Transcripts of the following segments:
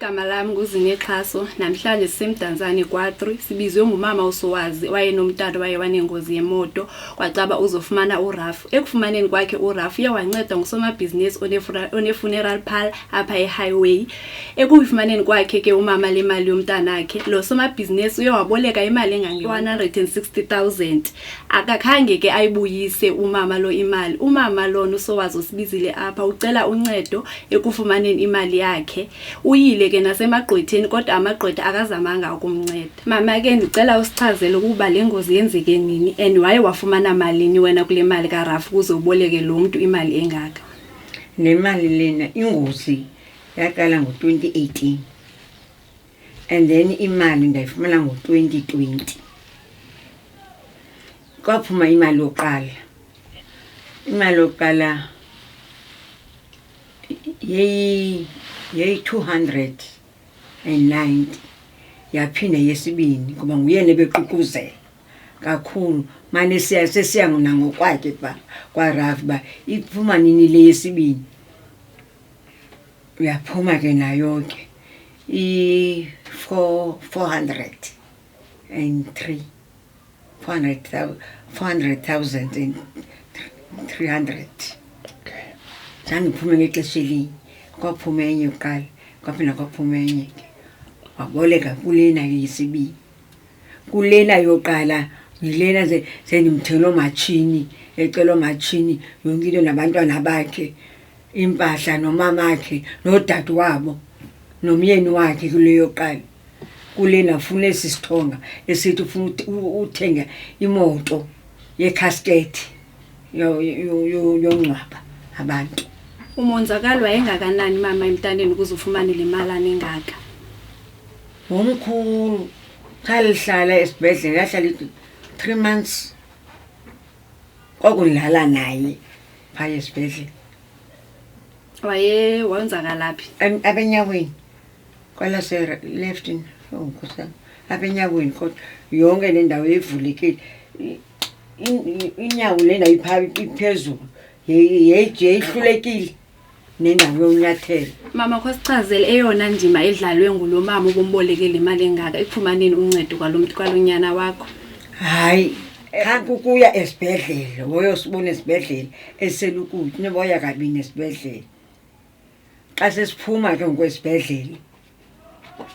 Igama lam nguZinexhaso. Namhlanje sisemdantsane kwatri sibizwe ngumama uSowazi owayenomtata waye wanengozi yemoto kwacaba uzofumana uraf ekufumaneni kwakhe uraf uye wancedwa ngusomabhizinisi onefuneral pal apha ehighway ekuyifumaneni kwakhe ke umama le mali yomntanakhe lo somabhizinisi uye waboleka imali engange-160 000 akakhange ke ayibuyise umama lo imali umama lona usowazi osibizile apha ucela uncedo ekufumaneni imali yakhe uyile ke nasemagqwetheni kodwa amagqwetha akazamanga ukumnceda mama ke ndicela usichazele ukuba le ngozi yenzeke nini and waye wafumana malini wena kule mali karafu ukuze uboleke lo mntu imali engaka nemali lena ingozi yaqala ngo-2018 and then imali ndayifumana ngo-twenty twenty kwaphuma imali yokuqala imali yokuqala yeyi yeyi-two hundred and ninety yaphinde yesibini ngoba nguyena ebeququzela kakhulu mane siya sesiya nangokwakhe kuba kwarafi uba iphuma nini le yesibini uyaphuma ke nayo ke i-403 400,300 okay zange uphume ngexesha elinye kwaphuma enye kuqala kwaphinde kwaphuma enye ke waboleka kulena yesibini kulena yoqala yilena sendimthele oomatshini ecela oomatshini yonke into nabantwana bakhe iimpahla nomamakhe nodade wabo nomyeni wakhe kule yoqala kulena funa esi sithonga esithi ufuna uthenga imoto yekhasketi yongcwaba abantu umonzakalo wayengakanani mama emntaneni ukuze ufumane le malana engaka ngomkhulu khalihlala esibhedlele yahlala ithi three months kwakundlala naye phaya esibhedlele waye wonzakalaphi Em- abenyaweni kwalase leftin ongikosam abenyaweni kodwa yonke le ndawo yayivulekile I- i- inyawo le ndawo ipha- iphezulu Yayi- yayi- yayihlulekile nengxami yonyathelo mama khosicazele eyona ndima edlalwe ngulo mama ubombolekele imali engaka ekufumaneni uncedo kwalo mntu kwalo nyana wakho hayi khanti ukuya esibhedlele woyosibona esibhedlele eselukuti neboya kabini esibhedlele xa sesiphuma ke ngokwesibhedlele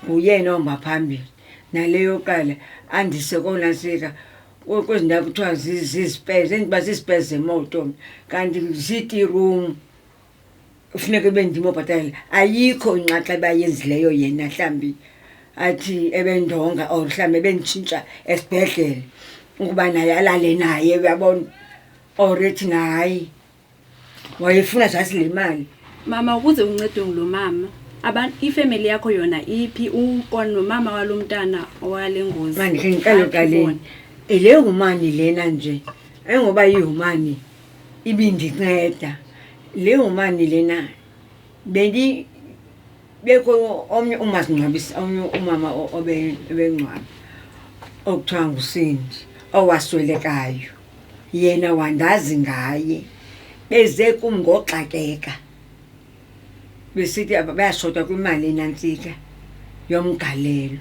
nguyena ohamba phambili nale yokuqala andise konasika kwezi ndawo kuthiwa zizipezi endiba zizipezi zemoto mna kanti ziti room kufuneka ube ndim obhatalela ayikho inxaxa ebayenzileyo yena mhlawumbi athi ebendonga or mhlawumbi ebenditshintsha esibhedlele ukuba naye alale naye uyabona or ethi nahayi wayefuna just le mali mama ukuze uncedwe ngulo mama abantu ifemeli yakho yona iphi uko nomama walo mntana owale ngozi mandikhe ngiqale uqaleni le humani lena nje engoba ihumani ibindinceda le humani lena bendi bekho omnye umasingcwabisa omnye umama obengcwaba okuthiwa ngusindi owaswelekayo yena wandazi ngaye beze kum ngoxakeka besithi bayashota kwimali enantsika yomgalelo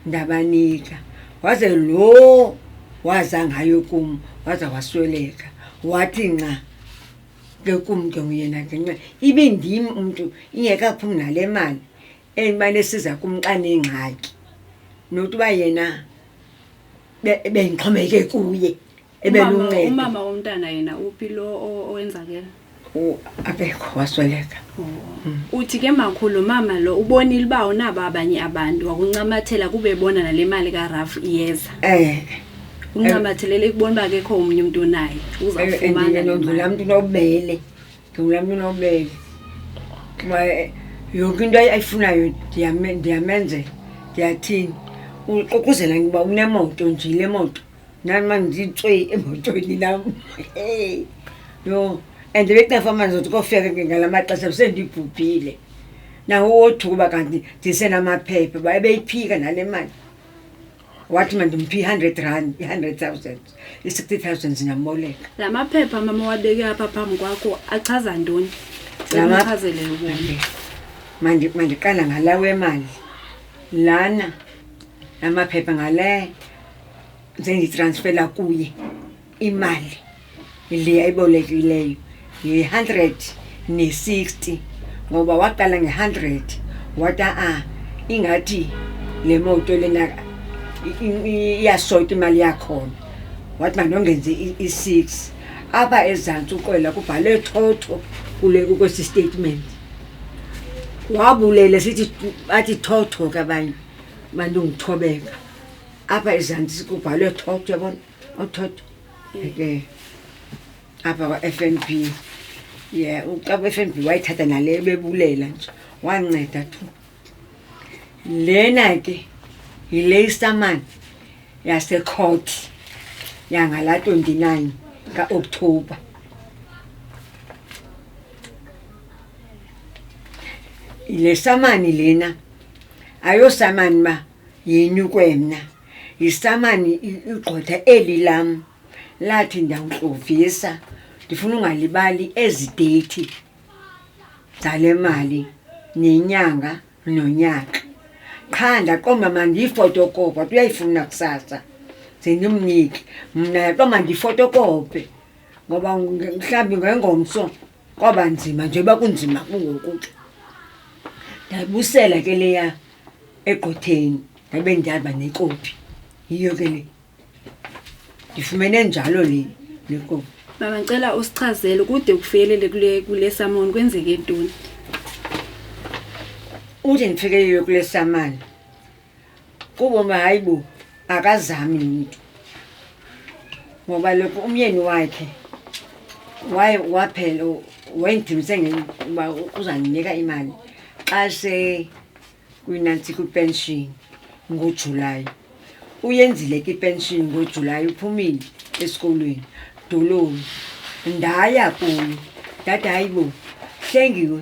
ndabanika waze lo waza ngayo kum waza wasweleka wathi nca ke kum ke nguyena ngenxa ibe ndim umntu ingekaphumi nale mali endimane siza kum xa nengxaki nokuba yena be- bendixhomekeke kuye ebelunceda umama womntana yena uphi lo o- owenzakela U- akekho wasweleka uthi ke makhulu mama lo ubonile uba unabo abanye abantu wakuncamathela kube bona nale mali karaf iyeza um uncamathelele kubona uba kekho omnye umntu onaye uzawufumana le mali. ndinondlula mntu nobele Ndingulaa mntu unobubele kuba eh, yonke into ayi- ayifunayo ndiyame- ndiyamenzela ndiyathini uxokozela uba unemoto nje le moto nam ma nditswe emotweni nam Hey, yho and bekungafa amanzi othi kofika ke ngala maxesha besendibhubhile nawo wothuka uba kanti ndisenamaphepha uba ebeyiphika nale mali wathi mandimphi i-hundred rand i-hundred thousand i-sixty thousand zingamboleka la maphepha mama wabeke apha phambi kwakho achaza ntoni La map- Uchazelele ubomi. Mandi- mandiqala ngala wemali lana amaphepha ngale senditransfela kuye imali le ayibolekileyo yi-hundred ne-sixty ngoba waqala nge-hundred wata a ah, ingathi le moto lena iyasota imali yakhona wathi mandongenze i-six apha ezantsi uqwela kubhalwe thotho kule kwesi statement wabulele sithi bathi thotho ke abanye mandingithobeka apha ezantsi kubhalwe thotho yabona othotho ke apha kwa-f n b ye uxa kwi-f n b wayithatha nale ebebulela nje wanceda tu lena ke yile istamani yasecourt yangala 29 kaokthobha le samani lena ayosamani uba yini kwemna Yisamani i- igqwetha eli lam lathi ndiyawuxovisa ndifuna ungalibali ezi deyithi zale mali nenyanga nonyaka qha ndaqomba mandiyifotokopa kuba uyayifuna kusasa ze ndimnike mna yaqomba ndiyifotokope ngoba nge- mhlawumbi ngengomso kwaba nzima njengoba kunzima kungoku ke ndayibusela ke leya egqotheni ndabe ndihamba nekopi yiyo ke le ndifumene njalo le le kopi mama ndicela usichazele kude kufikelele kule kule samoni kwenzeke ntoni uthi ndifikeyiwe kule samane kubomi hayi bo akazami nito ngoba lokho umyeni wakhe waye waphela wayendimse uba uzandinika imali xa se kwinansi kwipenshini ngojulayi uyenzile ke ipenshini ngojulayi uphumile esikolweni doloni ndaya kuyo ndathi hayi bo hlengiwe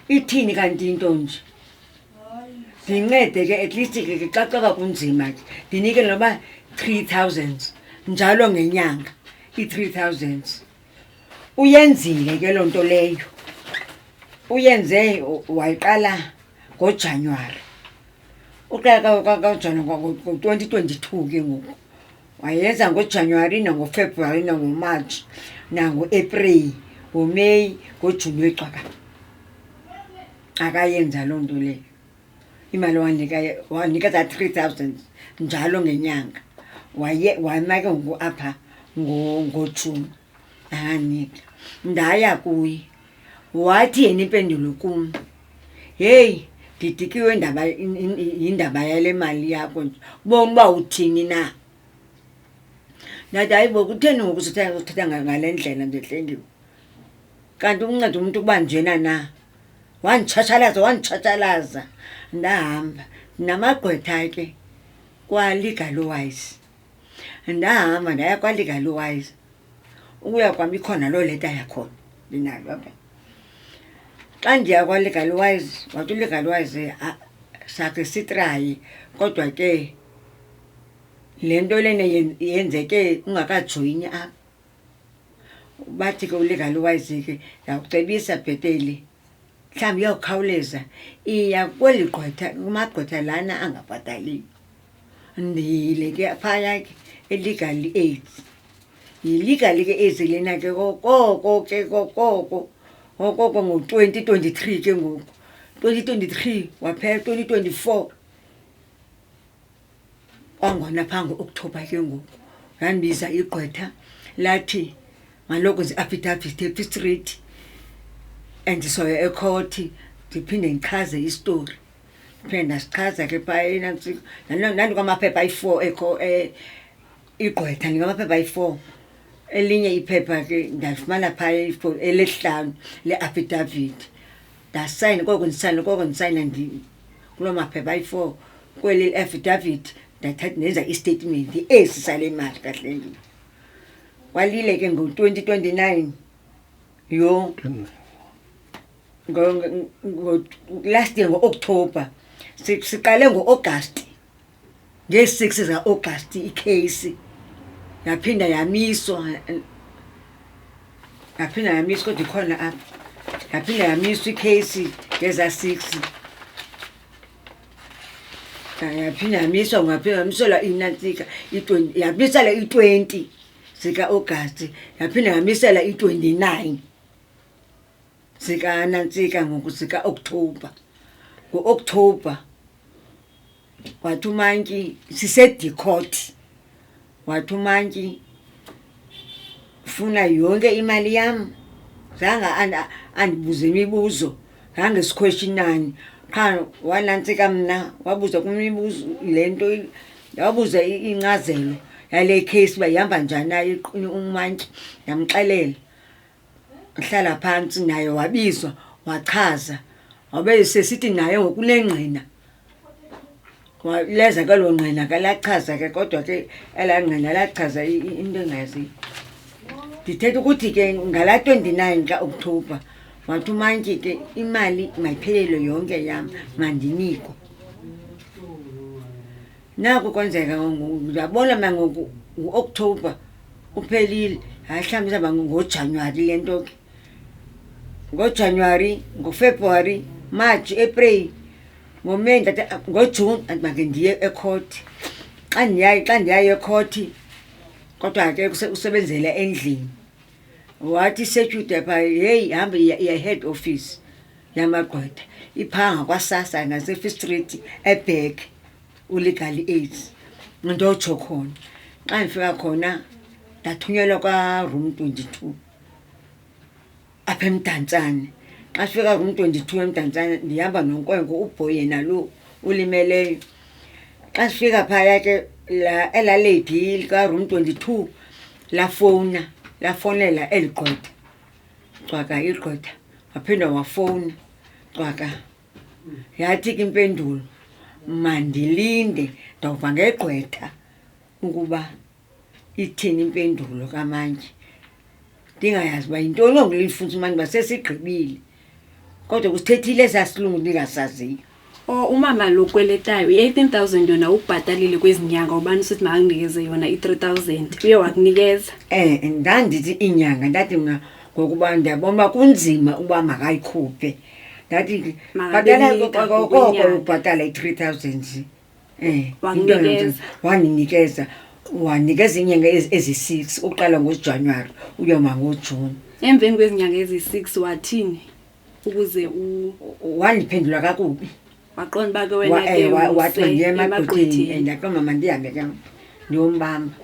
ithini kanti into nje ndincede ke at least ke ke xa kwaba kunzima ke ndinike noba three thousands njalo ngenyanga i-three thousands uyenzile ke loo nto leyo uyenze wayiqala ngojanuwari uqala kajanuwari ngo-twenty twenty-two ke ngoku wayenza ngojanuwari nangofebruwari nangomarch nangoapril ngomeyi ngojuni wecwakala akayenza loo nto leyo imali wanika wanika za three thousand njalo ngenyanga waye wayima ke ngoku apha ngojuni akanika ndaya kuye wathi yena impendulo kum heyi ndidikiwe ndaba yindaba yale mali yakho nje ubona uba uthini na ndathi hayibo kutheni ngoku sithetha ngale ndlela nje hlengiwe kanti ukunceda umntu ukuba njena na wanditshatshalaza wanditshatshalaza ndahamba namagqwetha ke kwa-legal wise ndahamba ndaya kwa-legal wise ukuya kwam ikhona loo leta yakhona ndinayo apha xa ndiya kwa-legal wise wathi ulegal wise ah, sakhe sitrayi kodwa ke le nto lena yenzeke ungakajoyini apha bathi ke ulegalo wayizike ndakucebisa bhetele mhlawumbi iyawukhawuleza iya kweli gqwetha kumagqwetha lana angabhataliyo ndiyile ke phaya ke elegal aids yilegal ke aids lena ke kokoko ke kokoko ngokoko ngo-twenty twenty three ke ngoku twenty twenty three waphela twenty twenty four kwangona phaa ngo-okthobha ke ngoku landibiza igqwetha lathi malokwenze i-affidavit epistrate and soya ekhothi ndiphinde ndichaze isitori ndiphinde ndasichaza ke phaenandikwamaphepha ayi-four ekho eh, igqwetha ndingamaphepha ayi-four elinye iphepha ke ndalifumana phaa elesihlanu le-affidavit ndasayina koko ndisayina koko ndisayina kuloo maphepha ayi-four kweli affidavit ndathatha ndenza istatement esi sale mali kahle ndini kwalile ke ngo-twenty twenty nine yho last year ngo-okthobha siqale ngo-agasti Ngee-six zikaOgasti ikheyisi yaphinda yamiswa, yaphinda yamiswa kodwa ikhona apha. Yaphinda yamiswa ikheyisi ngezaa six. Yaphinda yamiswa kwaphinda kwamiselwa inantsika i-twenty, yamiselwa i-twenty zikaOgasti, yaphinda yamiselwa i-twenty-nine. zikanantsika ngoku zika-okthobha ngo-okthobha wathi umantyi sisedicot wathi umantyi funa yonke imali yam zange andibuze imibuzo zange sikhweshinani qha wanantsika mna wabuza kumibuzo le nto wabuza incazelo yale case uba ihamba njani naye umantyi ndamxelela Wahlala phantsi naye wabizwa wachaza. Wabe sesithi naye ngokunengqina. Wa- Leza ke lo ngqina ke lachaza ke kodwa ke elaa ngqina lachaza i- i- into engayaziyo. Ndithetha ukuthi ke ngalaa twenty-nine xa October wathi umantyi ke imali mayiphelelwe yonke yam mandinikwe. naku kwenzeka ndiyabona mna ngoku ngu-okthobha uphelile hayi mhlawumbi izawuba ngojanuwari le nto ke ngojanuwari ngofebruwari march april ngomeyi ndata ngojuni andibake ndiye ekhothi xa ndiyayo xa ndiyayo ekhothi kodwa ke usebenzela endlini wathi security pha heyi hambe iya- iya head office yamagqwetha iphanga kwasasa ngasefi street ebhek ulegal aids ndotsho khona xa ndifika khona ndathunyelwa kwaroom twenty-two apha emdantsane xa sifika room twenty-two emdantsane ndihamba nonkwenkwe ubhoy yena lo ulimeleyo xa sifika phaya ke la elaledi likaroom twenty-two lafowuna lafowunela eli gqwetha cwaka igqwetha waphinde wafowuna cwaka yathi ke impendulo mandilinde ndawuva ngegqwetha ukuba ithini impendulo kamantyi ndingayazi uba yintoni ongulifundisa umani uba sesigqibile kodwa kusithethile esaa silungu ndingasaziyo o oh, umama lo kweletayo i-eighteen thousand yona ubhatalile kwezi nyanga ubani usithi makandinikeze yona i-three thousand uye wakunikeza um ndandithi iinyanga ndathi mna ngokuba ndiyabona uba kunzima uba makayikhuphe ndathi bhatala koko ubhatala i-three thousand Eh, Wanginikeza. into yonke- wanginikeza wanikeza iinyanga ezi- ezi-six ukuqala ngojanuwari uyoma ngojuni emveni kwezinyanga ezi-six wathini ukuze u- wandiphendula kakubi waqonda uba ke wena Wa- ke eh, wa- wathi umse mandiyema emagqwetheni. gqwetheni and athi mama ndihambe ke ndiyombamba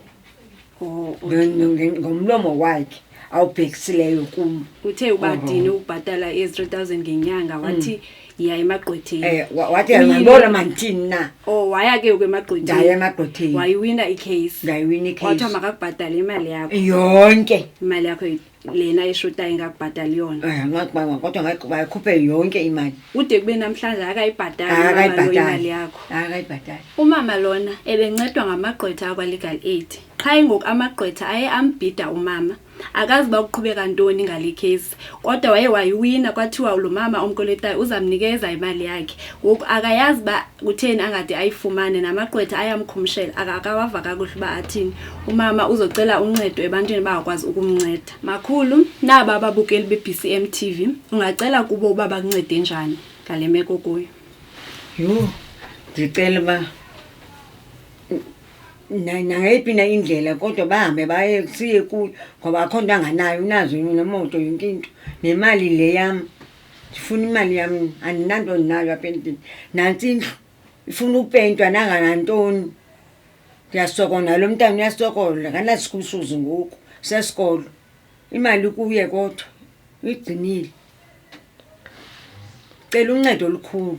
ngomlomo wakhe awubhekisileyo kum uthe ubadini ukubhatala i-three thousand ngenyanga wathi mm. yiya emagqwetheni eh, wathi yabona mandithini na o oh, waya ke uke emagqwethenindaya emagqwetheni wayiwina icase ndayiwina icase wathiwa makakubhatale imali yakho yonke imali yakho lena ishutayo ingakubhatali yona Eh, ngakubanga kodwa ngayi- bayikhuphe yonke imali ude kube namhlanje akayibhatali umama lo imali akayibhatali yakho akayibhatali umama lona ebencedwa ngamagqwetha akwa-legal aid qha ingoku amagqwetha aye ambhida umama akazi uba kuqhubeka ntoni ngale kheyisi kodwa waye wayiwina kwathiwa lo mama omkoletayo uzamnikeza imali yakhe ngoku akayazi uba kutheni angade ayifumane namagqwetha ayamkhumshela akakawava kakuhle uba athini umama uzocela uncedo ebantwini bangakwazi ukumnceda makhulu naba ababukeli be-bcm t v ungacela kubo uba bakuncede njani ngale meko kuyo yho ndicela uba nangayiphi na indlela kodwa bahambe baye siye kuyo ngoba akho nto anganayo unazo nemoto yonke into nemali le yam ndifuna imali yam andinanto ndinayo apha endlini nantsi indlu ifuna upentwa nanganantoni ndiyasokola nalo mntana uyasokola kanasikusuzi ngoku sesikolo imali kuye kodwa uyigcinile cela uncedo olukhulu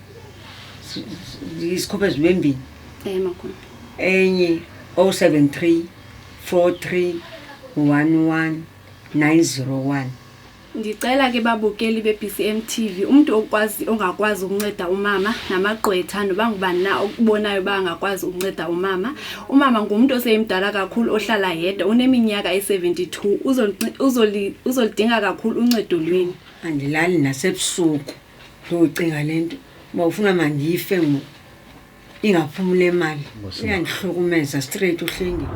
isikhuphe zibe mbini Eh makhulu. enye 073 43 11 901 Ndicela ke babukeli beBCM TV umuntu okwazi ongakwazi ukunceda umama namagqwetha noba ngubani na okubonayo ba angakwazi ukunceda umama. Umama ngumuntu oseyimdala kakhulu ohlala yedwa uneminyaka e72 uzolidinga kakhulu uncedo lweni. andilali nasebusuku ndiyocinga le nto uba ufuna mandife ngoku ingaphumi le mali Ngosima. uyandihlukumeza straight uhlengile